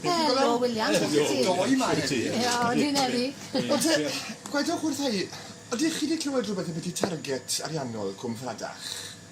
Helo, William. Sut wyt ti? Doi 'ma heddi. Iawn, dwi'n heddi. Ond te, gwedwch wrtha i, ydych chi 'di clywed rwbeth ambyti target ariannol Cwm Ffladach?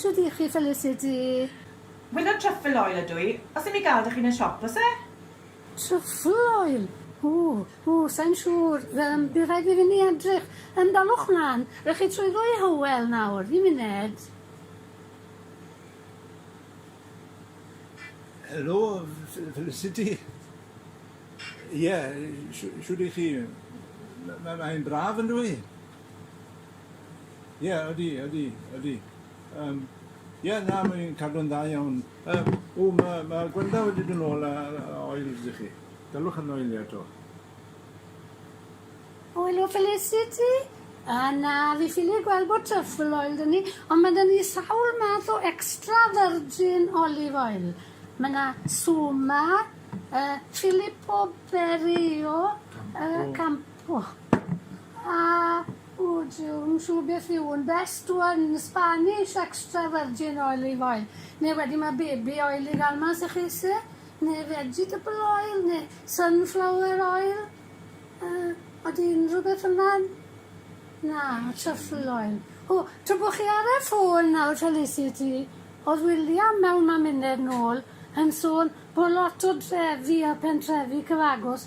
Shwd ych chi Felicity? Wyneb truffle oil ydw i. Os dim i ga'l da chi yn y siop o's e? Truffle oil? Ww, ww, sai'n siŵr. Yym, bydd rhaid i fi fynd i edrych. Yym, dalwch mlan. Rhowch chi trwy ddwy Hywel nawr. Ddim uned. Helo, Felicity. Ie, shwd ych chi? Mae'n braf yndyw i? Ie, ydy, ydy, ydy. Um, Ie, yeah, na, mae'n cadw'n dda iawn. Um, o, mae ma Gwenda wedi dyn ôl a, a oils i chi. Dylwch yn oelio eto. Oil o Felicity? A na, fi ffili gweld bod truffle oil dyn ni, ond mae dyn ni sawl math o extra virgin olive oil. Mae yna Suma, uh, Filippo Berio, uh, Campo. O! A wt ti'n siŵr beth yw un best one Spanish extra virgin olive oil? Neu wedyn ma' baby oil i ga'l mas i chi sy? Neu vegetable oil neu sunflower oil? Yy odi unrhyw beth fel 'na? Na, truffle oil. O! Tra bo' chi ar y ffôn nawr Felicity, o'dd William mewn maminedd nôl yn sôn bo' lot o drefi a pentrefi cyfagos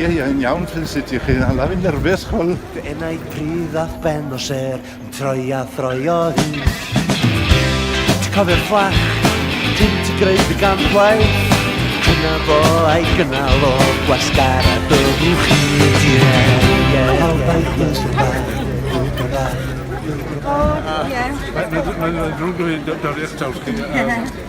Ie ie yn iawn Felicity chi hala fi'n nerfus ch'wel'. Fy enaid pridd a'th ben o sêr. Yn troi a throi o hyd Ti'n cofio'r fflach Ti'n ti greu dy gampwaith Dyna fo a'i gynnal o Gwasgar a byddwch chi Mae'n ddrwg o hyn, dorri'ch taws chi.